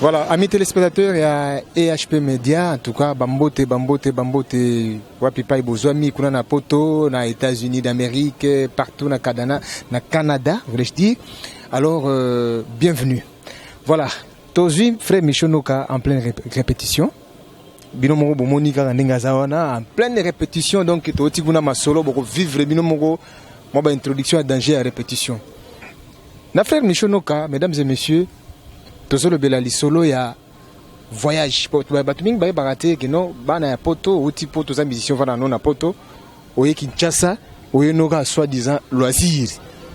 Voilà, amis téléspectateurs et à EHP Media, en tout cas, Bambote, Bambote, Bambote, Wapipai Bozwami, Kuna na Poto, na États-Unis d'Amérique, partout na Canada, na Canada, voulais-je dire. Alors, euh, bienvenue. Voilà, Tozui, frère Michonoka, en pleine ré répétition. bino moko bomoni kaka ndenge aza wana en pleine répétition donc toti kuna masolo boko vivre bino moko mwa baintroduction ya danger ya répétition Na frère Michel Noka, mesdames et messieurs, tozolobela lisolo ya voyage po bato mingi bayebaka te ke non bana ya poto outi poto oza musicien ovanda no na poto oye kinshasa oye noka soit disant loisir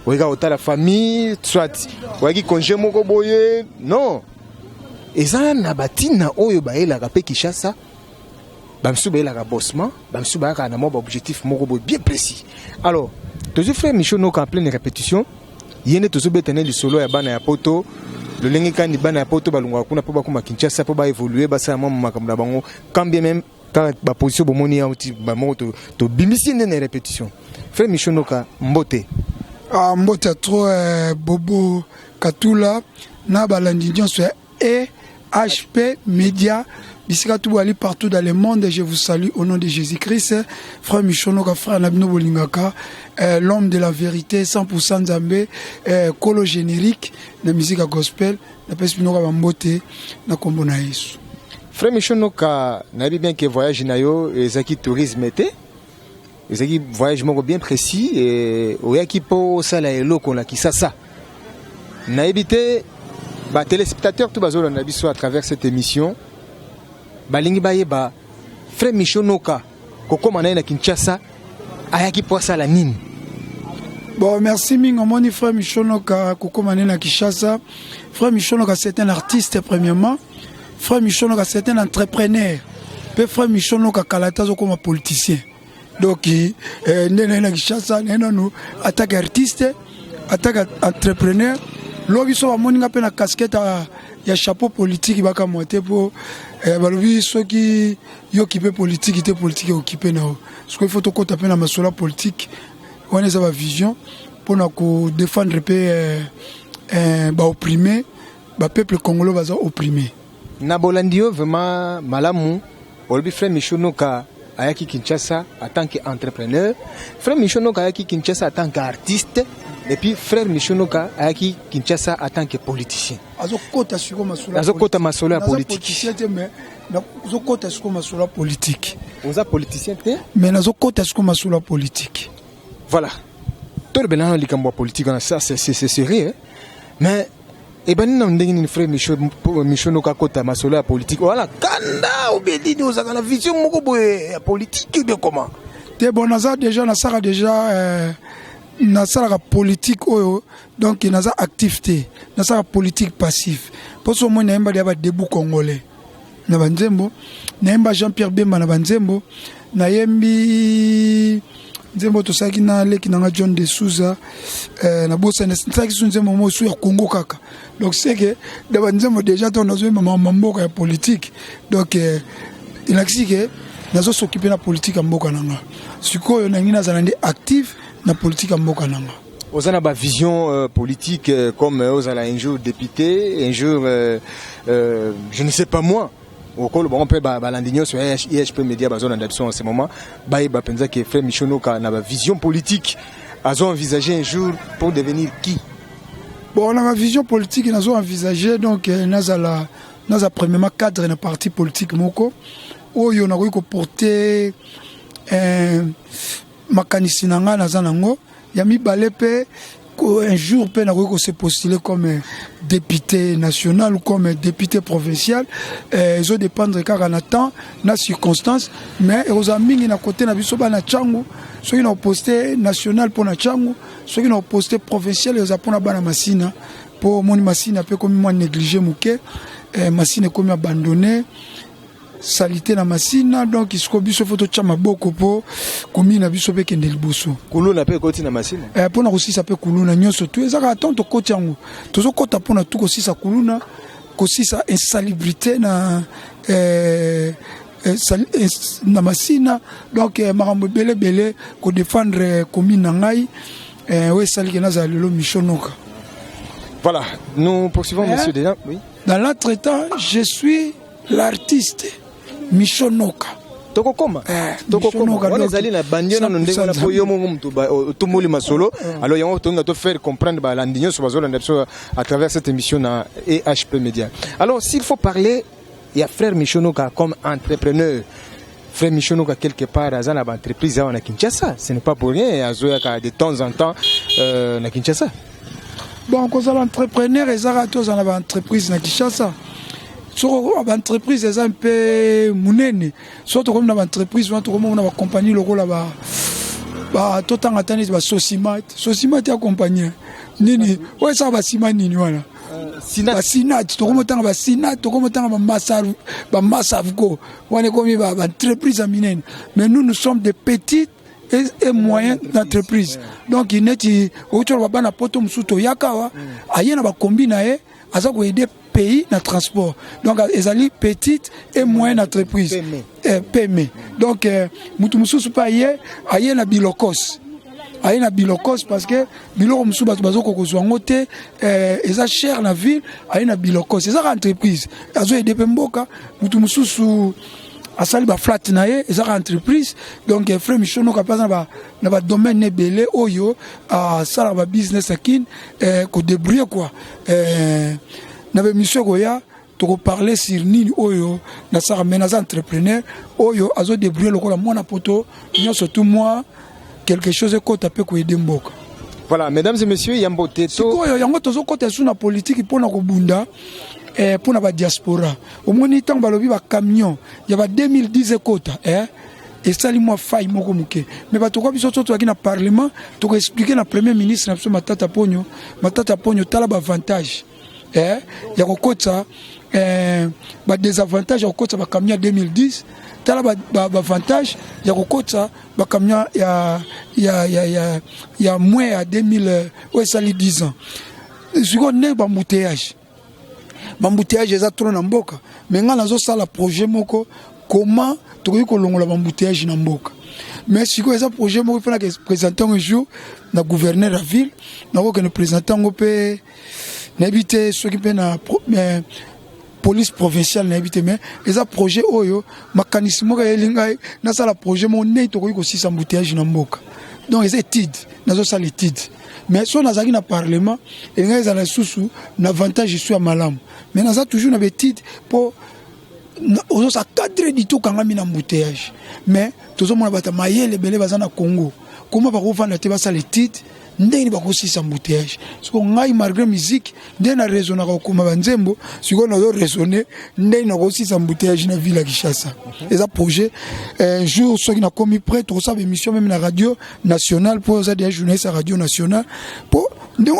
oyeka kotala famille soit oyaki congé moko boye non eza na batina oyo bayelaka mpe kinshasa bamisusu bayelaka bossement bamisusu bayaka na mwa baobjectif moko boye bien précis alors tozwi frère michel noka en pleine répétition ye nde tozobeta ne lisolo ya bana ya poto lolenge kani bana ya poto balongaka kuna mpo bakoma kinshasa mpo baévolue basala mwa makambo na bango quand bien même kaka baposition bomoni yango ti bamoko tobimisi nde na répétition frère michel noka mbote ah, mbote ya trop eh, bobo katula na balandi nyonso ya et HP Media bisika tout bali partout dans le monde je vous salue au nom de Jésus-Christ frère Michonoka frère Nabino Bolingaka euh, l'homme de la vérité 100% Nzambe euh, kolo générique na musique gospel na pesi bino ka bambote na kombo na Yesu Frère Michonoka nayebi bien que voyage na yo ezaki tourisme te Ezalaki voyage moko bien précis et oyaki mpo osala eloko na Kisasa. Nayebi te ba téléspectateurs tout bazolanda biso à travers cette émission balingi bayeba frère Michel Noka kokoma na ye na Kinshasa ayaki mpo asala nini? Bon, merci mingi omoni frère Michel Noka kokoma na ye na Kinshasa. Frère Michel Noka c'est un artiste premièrement. Frère Michonoka c'est un entrepreneur. Pe frère Michonoka kala tazo koma politicien. Donc eh, nde na na Kinshasa na nanu attaque artiste, attaque entrepreneur. Lobi so bamoni nga pe na casquette ya, ya chapeau politique baka moite po eh, balobi soki yo kipe politique te politique okipe na yo. Parce qu'il faut tokota pe na masola politique. Wana eza ba vision pona ko défendre pe eh, eh, ba opprimer ba peuple congolais baza opprime na bolandi yo vraiment malamu olobi frère Michou Noka ayaki Kinshasa en tant que entrepreneur frère Michou Noka ayaki Kinshasa en tant que artiste et puis frère Michou Noka ayaki Kinshasa en tant que politicien azokota siko masolo azokota masolo ya politique nazokota siko masolo ya politique oza politicien te mais nazokota siko masolo ya politique voilà tolobela na likambo ya politique wana ça c'est sérieux mais ebandi nanu ndenge nini frère micho micho noka kota masolo ya politique wala kanda obedini ozaka na vision moko boye ya politique de comment te bon naza déjà nasaka déjà euh, nasalaka politique oyo donc naza actif te nasalaka politique passif mpo so omoi nayembali ya badebu congolais na banzembo nayemba jean pierre bemba na banzembo nayembi nzembo tosalaki na leki nanga john de souza eh, nabosani nasalaki su nzembo mo su ya congo kaka donc seke da banzembo déjà to nazoyemba mama mboka ya politike donc eh, elakisi ke nazosokipe na politike ya mboka na nga sikoyo nangi nazala nde active na politike ya mboka na nga oza na ba vision euh, politique euh, comme euh, ozala un jour député un jour euh, euh, je ne sais pas moi okolo bango mpe balandi nyonso ya ihp média bazolanda biso en ce moment bayeba mpenza ke frère michonoka na ba vision politique azo envisage un jour pour devenir qui bon na ba vision politique nazo envisage donc euh, nazala naza premièrement cadre na parti politique moko oyo nakoki koporte euh, makanisi na ngai naza nango ya mibale mpe un jour mpe nakoki kose postuler comme député national ou comme député provincial eh, ezo dépendre kaka na temps na circonstance mais ekozala mingi na kote na biso bana cangu soki na oposte national mpo na cangu soki na oposte provincial ekozala mpo na bana masina mpo omoni masina mpe ekomi mwa néglige moke eh, masina ekomi abandonne salite na masina donc siko biso fo totya maboko mpo komi na biso mpe ekende liboso kuluna mpe ekoti na masina eh, mpo na kosisa mpe kuluna nyonso tu ezaka ata tokoti yango tozokɔta mpo na tu kosisa kuluna kosisa insalubrité na eh, eh, eh na masina donc eh, makambo ebele ebele kodefendre commune na ngai eh, oyo esaliki nazala lelo mishonoka voilà nous poursuivons eh? monsieur déjà oui dans l'entretemps je suis L'artiste Michel Noka. tokokoma eh, tokokoma wana ezali na bandi nano ndenge wana mpo yo moko moto otumboli masolo mm. alors yango tolinga to faire comprendre balandi nyonso bazolanda biso à travers cette émission na ehp média alors s'il faut parler ya frère michonoka comme entrepreneur Frère Michonoka quelque part aza na ba entreprise awa na Kinshasa, ce n'est pas pour rien azoyaka de temps en temps euh, na Kinshasa. Bon kozala entrepreneur ezaka te ozala na ba entreprise na Kinshasa soko baentreprise eza mpe monene soki tokomi na baentreprise wana tokomi na bacompagnie lokola ba ba totanga ata neti basosimat sosimat ya compagnie nini oyo esaka basima nini wana basinat tokomi otanga basinat tokomi otanga bamasavco wana ekomi ba entreprise ya minene mais nous nous sommes des petites et, et moyen d'entreprise donc neti outi oloba bana poto mosusu toyaka awa aye na bakombi na ye aza koyede pays na transport donc ezali petite et moyenne entreprise pme eh, donc eh, motu mosusu mpe aye aye na bilokos aye na bilokos parce que biloko mosusu bato bazokoka kozwa yango te eh, eza cher na ville aye na bilokos ezaka entreprise azoyede mpe mboka motu mosusu asali baflate na ye ezaka entreprise donc eh, frais michonoka mpe aza na badomaine ebele oyo asalaka babusiness akine eh, kodebrouille kua na bemission ekoya toko parler sur nini oyo nasaka mais naza entrepreneur oyo azo débrouiller lokola mwana poto nyonso tout moi quelque chose ekota mpe koyede mboka voilà mesdames et messieurs yambo te sikoyo yango tozokota esu na politiki mpo na kobunda eh, mpo na badiaspora omoni ntango balobi bacamion ya ba 2010 ekota eh? esali mwa fai moko moke me bato kwa biso to tozalaki na parlement tokoexplike na premier ministre na biso matata ponyo matata ponyo tala baavantage eh, ya kokotisa eh, badesavantage ya kokotisa bacamion ya 2010 tala baavantage ba, ba ya kokotisa bacamion ya, ya, ya, ya, ya mwe ya 2000 euh, oyo esali 10 ans sikoyo ndenge bambuteyage bambuteyage eza tro na mboka me ngai nazosala projet moko comment tokoki kolongola bambuteyage na mboka mais sikoyo eza projet moko mpe nakepresente yango jour na gouverneur ya ville nakokende presente yango mpe nayebi te soki mpe na eh, police provinciale nayebi te mais eza projet oyo makanisi moko eyeli ngai nasala projet moko ndenge tokoki kosisa mbuteyage na mboka donc eza étude nazosala étude mais soki nazalaki na parlement elingaki ezala lisusu na avantage esu ya malamu mais naza toujours na baétude mpo ozosa 4 du tout kangami na mbuteyage mais tozomona bato mayele ebele baza na congo koma bakofanda te basala étude ndenge nini bakosilisa embouteillage siko ngai malgré musique nde na raisonnaka kokoma banzembo sikoyo nazo raisonne ndenge nakosilisa embouteillage na ville ya kinshasa eza projet un jour soki nakomi près tokosala baémission meme na radio nationale mpo oza deja journaliste ya radio nationale mpo ndenge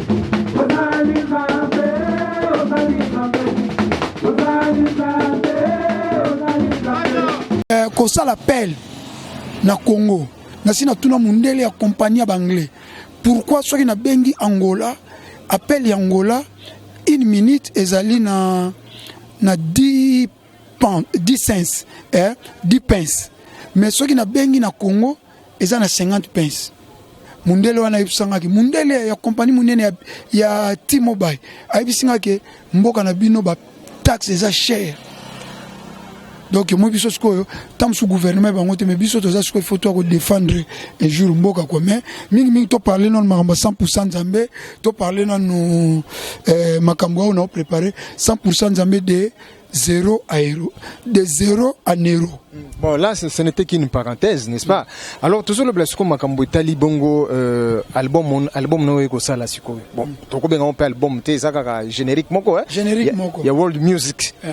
Eh, kosala pele na congo nasi natuna mondele ya kompani ya baanglais pourkui soki nabengi angola appel ya angola une minute ezali na, na 10 pence eh, 10 pence mais soki nabengi na congo eza na 50 pence mundele wana ayebisa nga ke mundele ya kompani monene ya, ya t-mobile ayebisi nga ke mboka na bino bataxe eza chere donc moi biso sikoyo ntango mosusu gouvernement bango te mais biso toza sikoyo faut toya kodefendre ejour mboka kua mais mingimingi toparle nano makambo ya 100 pourcent nzambe toparle nano eh, makambo oyo nao prépare 100 pourcent nzambe de zéro à héros, de zéro à Nero. Bon, là, ce, ce n'était qu'une parenthèse, n'est-ce pas Alors, tout ça, le blasco makambo etali bongo euh, album on- album no eko sala sikoyo. Bon, toko benga on pe album te eza kaka générique moko hein. Générique Ya- moko. Ya world music. Eh.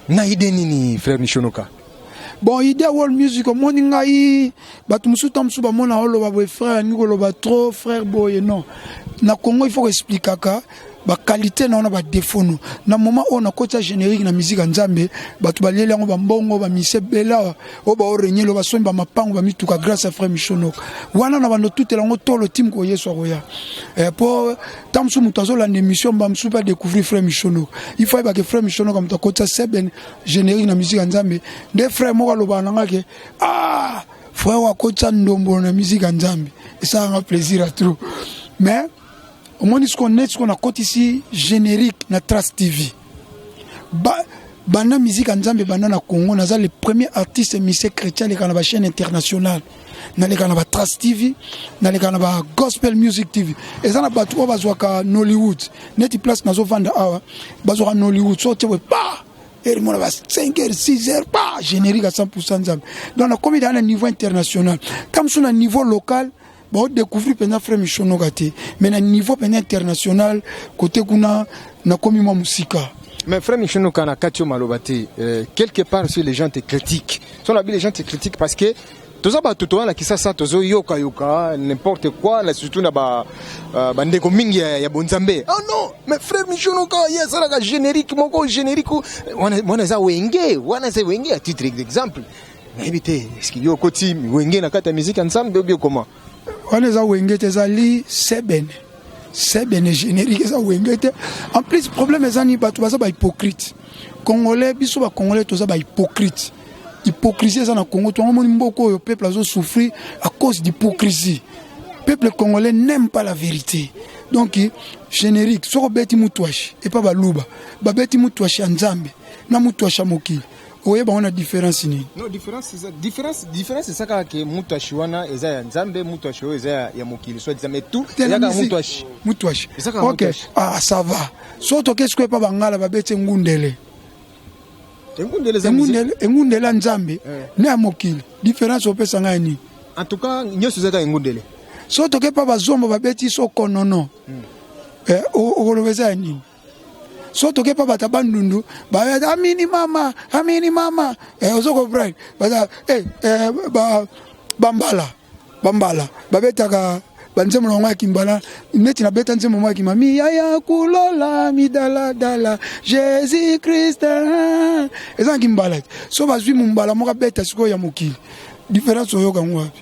Na idée nini frère Nishonoka bon idea world music omoni ngai bato mosusu ntango mosusu bamona oloba boye frère alingi koloba trop frère boye non na congo il faut koexplikaka bakalite na wana badefo no na moment oyo nakoti ya générique na miziki ya nzambe bato balieli yango bambongo bamise ebele awa oyo baorenyeli oyo basombi bamapango bamituka grâce ya frère michonok wana na bando tutela yango tolo tim ko yesu akoya mpo eh, ntango mosusu moto azolanda émission mba mosusu mpe adécouvrir frère michonok il faut ayebake frère michonok moto akotisa seben generique na musique ya nzambe nde frère moko alobaka na nga ke ah frère oyo akotisa ndombolo na musique ya nzambe esalaka nga plaisir ya trop mais omoni siko neti siko nakotisi generique na trace tv ba banda musique ya nzambe banda na congo naza le premier artiste mise chrétien aleka na bachaîne internationale naleka na ba trace tv naleka na ba gospel music tv eza na bato oyo bazwaka nollywood neti place nazovanda awa bazwaka nollywood so otie boye ba erimona ba 5 heures 6 heures ba générique à 100 nzambe donc nakomi daa na niveau international ta mosusu na niveau local baodécouvrir mpenza frère mishonoka te mais na niveau mpenza international kote kuna nakomi mwa mosika mais frère mishonoka na kati yo maloba te euh, quelque part si les gens te critiquent Son la les gens te critiquent parce que toza bato toza na kisasa tozoyokayoka n'importe quoi na surtout na euh, bandeko mingi ya bonzambe oh non mais frère michono kaka ye asalaka générique moko générique wana eza wenge wana eza wenge à titre d'exemple nayebi te eske yo okoti wenge na kati ya musique ensemble obi okoma wana eza wenge te ezali sebene sebene générique eza wenge te en plus problème eza ni bato baza bahypocrite congolais biso bacongolais toza bahypocrite hypocrisie eza na congo to amoni mboka oyo peuple azosouffrir à cause d'hypocrisie peuple congolais n'aime pas la vérité donc générique soki obeti mutuashi epa baluba babeti mutuashi ya nzambe na mutuashi ya mokili oye bango na différence nini non différence eza différence différence eza kaka ke mutu ashi wana eza ya nzambe mutu ashi oyo eza ya, ya mokili soit disant mais tout eza kaka mutu ashi mutu ashi eza kaka okay. ah ça va so tokesi ko epa bangala babeti ngundele engundele eza engundele engundele ya nzambe eh. na ya mokili différence opesa ngai nini en tout cas nyonso eza kaka engundele so toke pa bazombo babeti so konono hmm. eh, okoloba eza ya nini so toke pa bata bandundu bayata amini mama amini mama eh, ozo comprendre bata eh, eh, ba, bambala bambala babetaka banzembo na yango ya kimbala neti nabeta nzembo moko ya kimba miya ya kulola midaladala jésus christ ah. eza na kimbala so bazwi mombala moko abeta sikoyo ya mokili différence oyoka yango wapi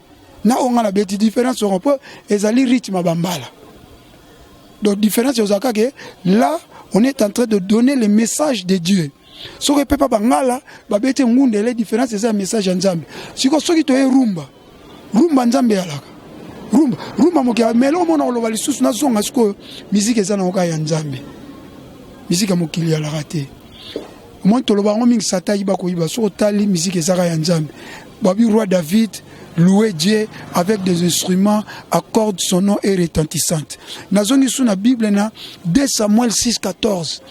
na oyo ngai nabeti différence yango mpo ezali rythme ya bambala donc différence ozala kaka là on est en train de donner le message de dieu soki epepa bangala babeti engundele différence eza ya message ya nzambe siko soki toye rumba rumba nzambe eyalaka rumba rumba moke mele omona koloba lisusu nazonga sikoyo miziki eza na oka ya nzambe miziki ya mokili yalaka te omoni toloba yango mingi sata ayiba koyiba soki otali miziki ezaka ya nzambe babi roi david louer dieu avec des instruments accorde son nom et retentissante nazongi su na bible na 2 samuel 6 14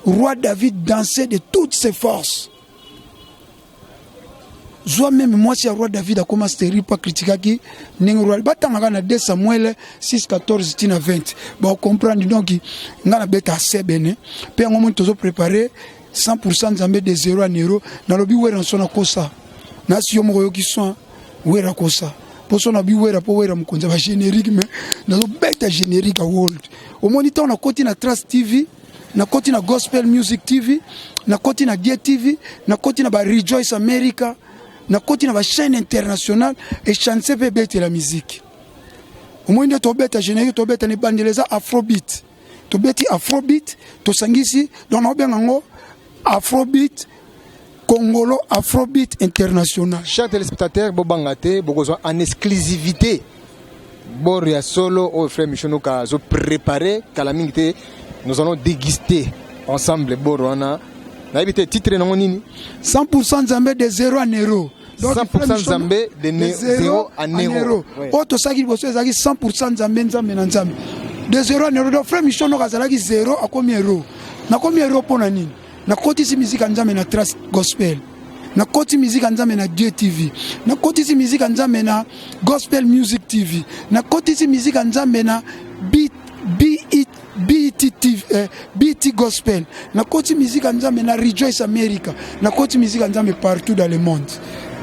roi david dansait de toutes ses forces zwa meme mwasi ya roi david akoma steri mpo akritikaki ndenge roi batangaka na 2 samuel 614 tina 20 baocomprendre donc ngai nabeta asebene mpe yango moni tozoprepare 100 nzambe de 0 ya nero nalobi weranso nakosa nasi yo moko oyoki soin wera kosa poso na bi wera mpo wera mokonzi ya bagénérique me nazobeta générique ya world omoni ntango nakoti na trace tv nakoti na Gospel Music TV, nakoti na Gie TV, nakoti na ba Rejoice America, nakoti na ba chaîne internationale et chance pe bete la musique. Omoni nde tobeta générique tobeta ne bandela eza afrobeat. Tobeti afrobeat, tosangisi donc na obenga ngo afrobeat Congolo Afrobeat International. Chers téléspectateurs, bobanga te, bokozwa en exclusivité bord ya solo oyo frère Michonoka azo préparer kala mingi te nous allons déguster ensemble bord wana nayebi te titre nango nini 100% Nzambe de zero à nero 100% Nzambe de, ne, de zero à nero oyo tosaki liboso ezalaki 100% Nzambe Nzambe na Nzambe de zero à nero donc frère Michonoka azalaki zero akomi hero nakomi hero mpo na nini nakotisi miziki ya nzambe na trace gospel nakoti miziki ya nzambe na dieu tv nakotisi miziki ya nzambe na gospel music tv nakotisi miziki ya nzambe na beat BET, BET, TV, eh, BET Gospel nakoti miziki ya nzambe na Rejoice America nakoti miziki ya nzambe partout dans le monde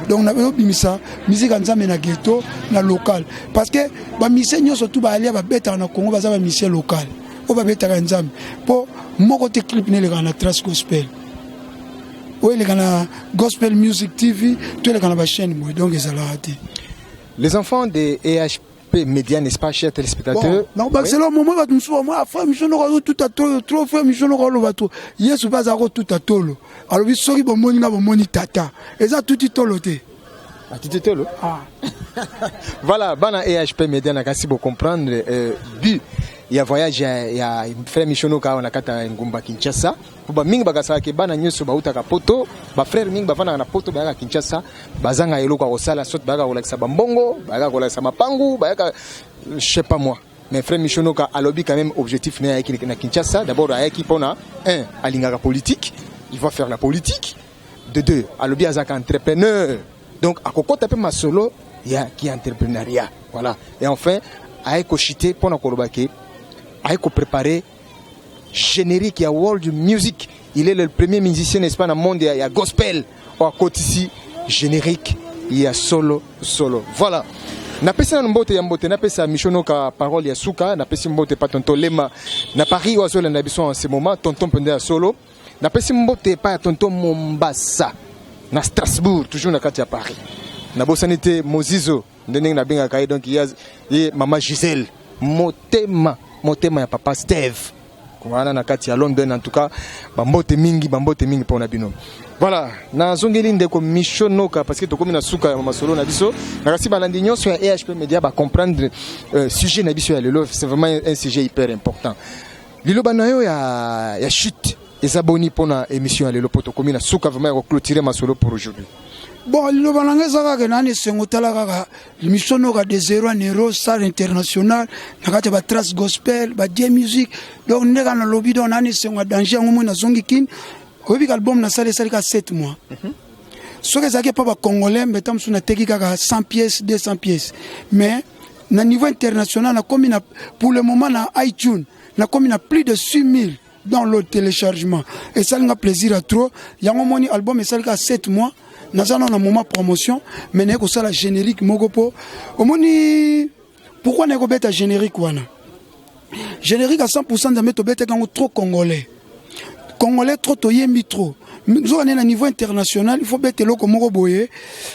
donc nayobimisa miziki ya nzambe na ghetto na local parce que bamisie nyonso tu baalia babetaka na congo baza bamisie local oyo babetaka nzambe mpo moko te clip na elekaka na trace gospel oyo eleka na gospel music tv to eleka na bachaîne boye donc ezalaka te les enfants de ehp média n'est-ce pas cher téléspectateur nakobakisela momo bato mosusu bamwa frère michon noko azotuta tolo trop frère michon noko aloba to yesu mpe azala kotuta tolo alobi soki bomoni nga bomoni tata eza tuti tolo te Atiti tolo. Ah. voilà, bana EHP Media na kasi bo comprendre euh, but ya voyage ya, ya frère Mishono kawa na kata ngumba Kinshasa. Po ba mingi bakasaka ke bana nyoso bautaka Poto, ba frère mingi bavanda na Poto bayaka Kinshasa, bazanga eloko ya kosala, soit bayaka kolakisa ba mbongo, bayaka kolakisa mapangu, bayaka je sais pas moi. mais frère mishonoka alobi quand même objectif na yaki na kinshasa d'abord ayaki mpona un alingaka politique il va faire la politique de deux alobi azalaka entrepreneur donc akokota mpe masolo ya ki entrepreneuria voilà et enfin aye kochite mpo na koloba ke aye koprepare générique ya world music il est le premier musicien n'est-ce pas na monde ya, ya gospel oyo akotisi générique ya solo solo voilà napesi nanu mbote ya mbote napesa mishonoka parole ya suka napesi mbote pa tonton lema na paris oyo azolanda biso en ce moment tonton mpenza ya solo napesi mbote epai ya tonto mombasa na strasbourg toujours na kati ya paris nabosani te mozizo nde ndenge nabengaka ye donc ye mama gisele motema motema ya papa steve wana na kati ya london en tout cas bambote mingi bambote mingi mpo na bino voilà nazongeli ndeko micho noka parce que tokomi na suka ya masolo na biso nakasi balandi nyonso ya ehp media bacomprendre euh, sujet na biso ya lelo c'est vraiment un sujet hyper important Liloba na yo ya, ya chute eza boni mpo na émission ya lelo mpo tokomi na suka vraiment ya koclotire masolo pour aujourd'hui bon liloba na ngai eza kaka nani esengo tala kaka limission noka de zero a nero star international na kati ya batrace gospel badie musique donc nde kaka nalobi donc nani esengo ya danger yango moi nazongi kini oyebi ka album nasali esali ka 7 mois mm -hmm. soki ezalaki epa bacongolais mbe ta mosusu nateki kaka 100 pièces 200 pièces mais na niveau international nakomi na pour le moment na iTunes nakomi na plus de 6000 dans le téléchargement esali nga plaisir ya trop yango moni album esali ka 7 mois naza nao na moment promotion mais naye kosala générique moko mpo omoni pourquoi naye kobeta générique wana générique à 100% nzambe tobetaki yango trop congolais congolais trop toyembi trop nzoka nde na niveau international il faut beta eloko moko boye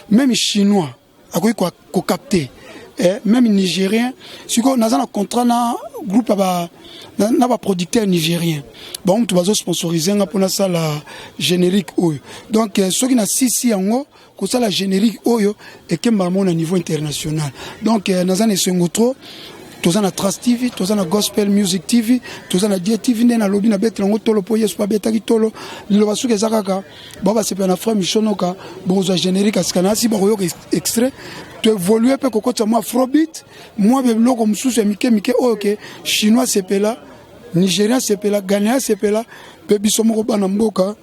même chinois akoki ko capter eh, même nigérien sikoyo naza na contrat na groupe ba na, na baproducteur nigérien bango moto bazo sponsorise nga mpo nasala générique oyo donc eh, soki na sisi yango kosala générique oyo ekembaka mo na niveau international donc eh, naza na esengo trop toza na trace tv toza na gospel music tv toza na die tv nde nalobi nabetela yango tolo mpo yesu mpe abetaki tolo liloba soki eza kaka ba basepela na frère michel noka bokozwa générique asika na asi bakoyoka extrait toévolue mpe kokotisa mwa afrobeat mwa biloko mosusu ya mike mike oyo ke chinois asepela nigérien asepela ghanéen asepela mpe biso moko bana mboka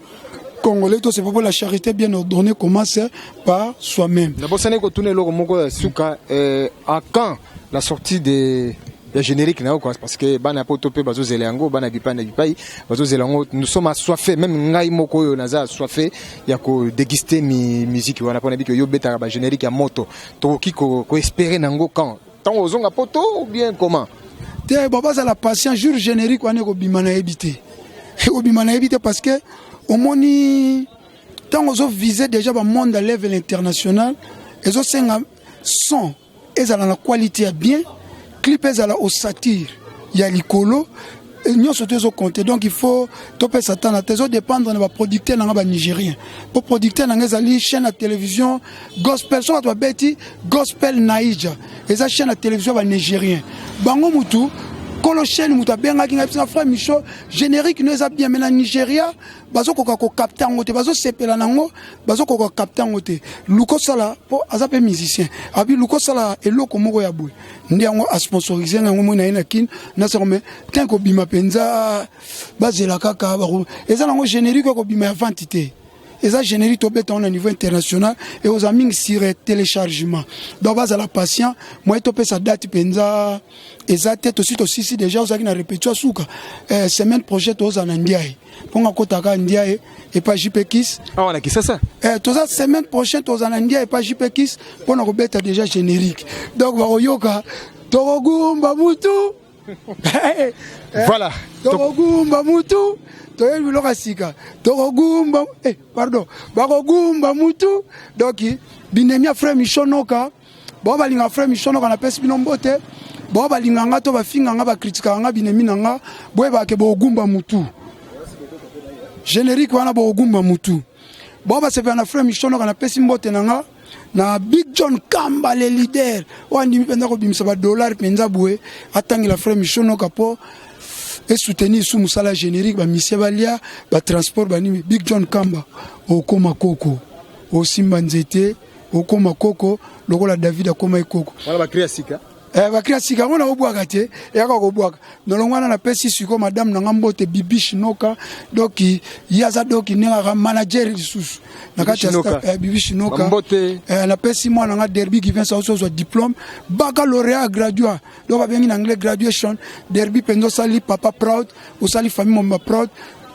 congolais to sepopo la charité bien ordonnée commence par soi-même nabosani kotuna eloko moko ya suka eh, à quand la sortie de ya générique na yo quoi parce que bana poto pe bazo zela yango bana bipai na bipai bazo zela yango nous sommes assoiffés même ngai moko oyo naza assoiffé ya ko déguster mi musique wana pona biki yo betaka ba générique ya moto tokoki ko, ko espérer nango quand tant ozonga poto ou bien comment te bon bazala patient jour générique wana ekobima nayebi te ekobima nayebi te parce que omoni ntango ozovise déjà bamonde ya level international ezosenga son ezala na quality ya bien clip ezala osatire ya likolo nyonso te ezokonte donc il faut topesa ata na te ezodépendre na baproducteur na nga banigérien mpo producteur na nga ezali chaîne ya télévision gospel so bato babeti gospel naija eza chaîne ya télévision ya banigérien bango motu kolo chaîne moto abengaki ngai bisinga frère micho générique no eza bien me na nigéria bazokoka kokapte yango te bazosepela na yango bazokoka kokapte yango te luka osala mpo aza mpe musicien abi luka osala eloko moko ya boye nde yango asponsorise na yango moi na ye na kine nasango me tin kobima mpenza bazela kaka eza na yango générique ya kobima ya vente te eza générique tobeta yango na niveau international ekozala mingi sur téléchargement donc bazala patient moye topesa date mpenza eza te tosi tosisi déjà ozalaki na répétition suka eh, semaine prochaine tozala na ndiaye mpo nga kotaka ndia e epa jipekis awa na kisasa eh, toza semaine prochaine toza na ndia epa jipekis mpo na kobeta déjà générique donc bakoyoka tokogumba mutu eh, eh, voilà tokogumba mutu toyebi biloko ya sika tokogumba eh, pardon bakogumba mutu donc binemia frère michonoka bao balinga frère michon noka napesi bino mbote bao balinga nga to bafinga nga bakritikaka nga binemi na nga boyebaka ke boogumba mutu générique wana boogumba mutu bao basepela na frère michon noka napesi mbote na nga na big john kamba le leader oyo andimi mpenza kobimisa badollar mpenza boye atangela frère michon noka mpo esoutenir su mosala générique bamisie balia batransport banimi big john kamba okoma koko osimba nzete okoma koko lokola david akomaki koko wana bakri ya sika eh, bakri ya sika yango nakobwaka te eyaka kobwaka nolongo wana napesi siko madame na nga mbote bibishi noka doki ye aza doki ndenge aka manager lisusu na kati ya eh, bibishi noka eh, napesi mwana nga derby givens ausi ozwa diplôme baccalauréat gradua donc babengi na anglais graduation derby mpenza osali papa proud osali famille mobimba proud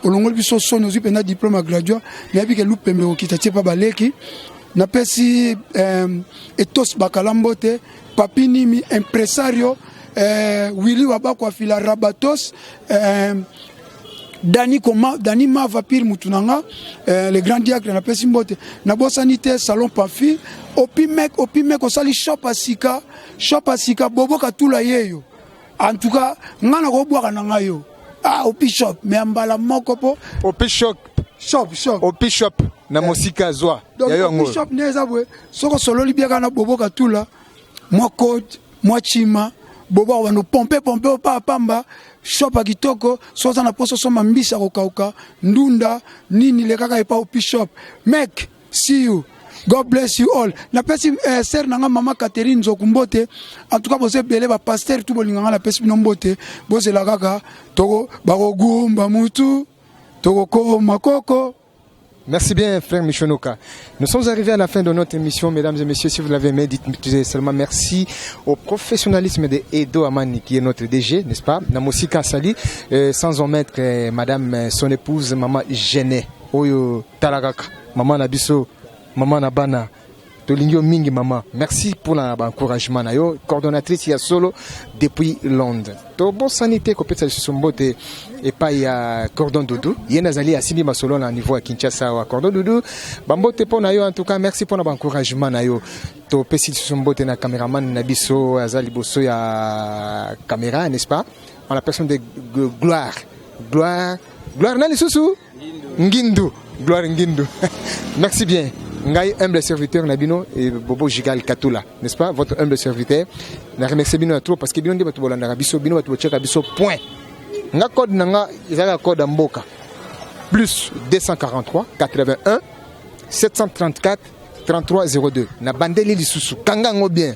olongoli biso soni ozwi mpenza diplome ya gradua nayebi ke lupembe okita tie mpa baleki napesi eh, etos bakala mbote papi nimi impresario eh, willi wabako afila rabatos eh, dani koma dani mava pire mutu na nga eh, le grand diacre napesi mbote nabosani te salon pafi opimek opimek osali shop ya sika shop ya sika bobo katula yeyo En tout cas, nga na ko bwaka na nga yo. Ah, au bishop, mais en bala moko po. Au bishop. Shop, shop. Au bishop na eh. mosika zwa. Donc, ya yo ngo. Bishop neza bwe. Soko solo libiaka na bobo katula. Mwa cote, mwa chima. Bobo wano pompe pompe opa pamba. Shop akitoko, soza na poso soma mbisa kokauka, ndunda, nini lekaka epa au bishop. Mec, See you. God bless you all. Napesi eh, sœur na nga mama Catherine Nzoku mbote. En tout cas boza ebele ba pasteur tout bolinga nga napesi bino mbote. Bozela kaka toko bakogumba mutu tokokoma koko. Merci bien, frère Michonoka. Nous sommes arrivés à la fin de notre émission, mesdames et messieurs. Si vous l'avez aimé, dites seulement merci au professionnalisme de Edo Amani, qui est notre DG, n'est-ce pas Namosika Sali, euh, sans omettre euh, madame euh, son épouse, maman Genet. Oyo tala kaka mama na biso mama na bana tolingi yo mingi mama merci mpona baencouragement na yo coordonnatrice ya solo depuis londres tobosani te kopesa lisusu mbote epai ya cordon doudou ye nde azali asimbi masolo na niveau ya kinshasa awa cordon doudou bambote mpo na yo en tout cas merci mpona baencouragement na yo topesi lisusu mbote na cameraman na biso aza liboso ya camera n'est ce pas en la personne de gloire gloire gloire na lisusu Ngindu, gloire Ngindu. Merci bien. Ngai humble serviteur na bino et Bobo Gigal Katula, n'est-ce pas? Votre humble serviteur. Na remercie bino trop parce que bino nde bato bolandaka biso, bino bato bocheka biso point. Nga code na nga ezalaka code ya mboka. Plus 243 81 734 3302. Na bandeli lisusu. Kanga ngo bien.